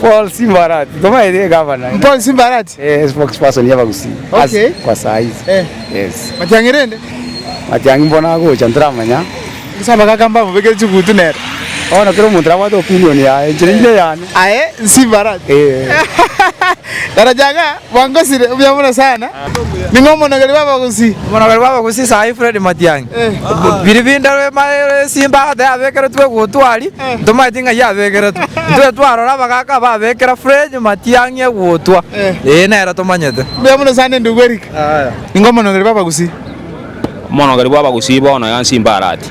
Paul Simbarati tomaete egavana. Paul Simbarati. Eh, spokesperson y'Abagusii. Okay. As, kwa saa hizi. Eh. Yes. Matiang'i rende. Matiang'i mbona agocha ntaramanya. Ase abagaka mbamobekere chigutu nere. Bono kera omonto nabwate opinion yaye, enchera inde yane. Aye Simbarati. Eh. Daraja ng'a. Bangosire obuya mono sana. Ning'o omonogeri bw'abagusi? Omonogeri bw'abagusi saii Fred Matiangi. Biri binde rwemaire esimba agoteba yabekeretwe egutwa aria ntomaeti ng'ai yabekeretwe. Ntwe twarora abagaka babekera Fred Matiangi egutwa ee nere tomanyete. Mbuya mono sana endugu Eric. Ning'o omonogeri bw'abagusi? Omonogeri bw'abagusi bono yansimba arati.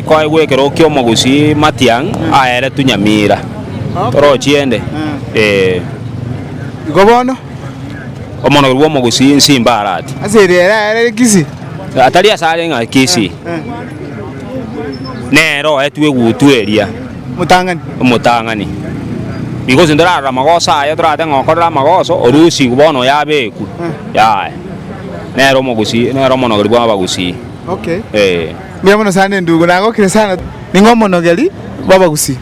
Kwaegwa ekero ki'omogusii Matiang' aeretwe Nyamira. Torochiende. Ee. Igo bono. Omonogeri bw'omogusii Nsimba arati. Ase eria ere aerere Kisii. Atari ase are ng'a Kisii. Nere oetwe egutu eria. Omotang'ani. Omotang'ani. Igo gose ntorarora amagoso aye torate ng'a okorera amagoso orusigwe bono oyo abekwe. Yaya. Nere omogusii nere omonogeri bw'abagusii. Okay. Ee. Mbuya mono sana endugu, nagokire sana. Ning'o omonogeri bw'abagusii?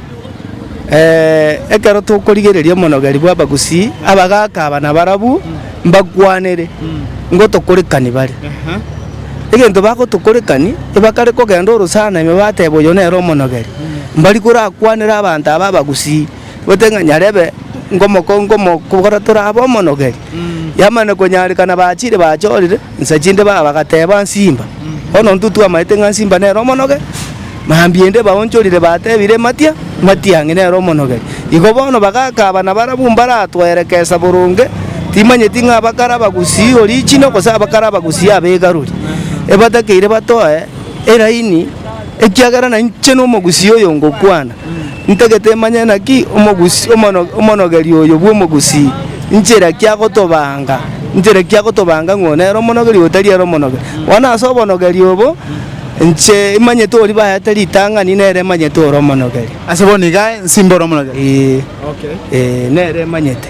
Ee, ekero tokorigereria omonogeri bw'abagusii, abagaaka aba nabarabwo mbakwanere ngotokorekani bare. Egento bagotokorekani, ebakare kogenda oro sana ime bateba oyo nere omonogeri, mbari korakwanere abanto aba abagusii, bote ng'a nyarebe ngomoko ngomo kogora torabe omonogeri. Yamana konyarekana bachire bachorire. insa chinde ba bagateba nsimba. Bono intwe twamaete ng'a nsimba nere omonoge, mambia inde baonchorire batebire matia, matiang'i nere omonogeri. Igo bono bagaaka abana barabwo mbaratwerekesa boronge, timanyeti ng'a abakare abagusii original gose abakare abagusii abegaruri. Ebatakeire batoe eraini ekiagera nainche nomogusii oyo ngokwana. Ntagete manye naki omogusii omonogeri oyo bw'omogusii, nchera ki agotobanga, nchera ki agotobanga ng'o nere omonogeri oyo tari ere omonogeri. Bono ase obonogeri obo, inche imanyete oria baete ritang'ani nere emanyete ore omonogeri. Ase bono iga nsimbe ore omonogeri? Ee, ee, nere emanyete.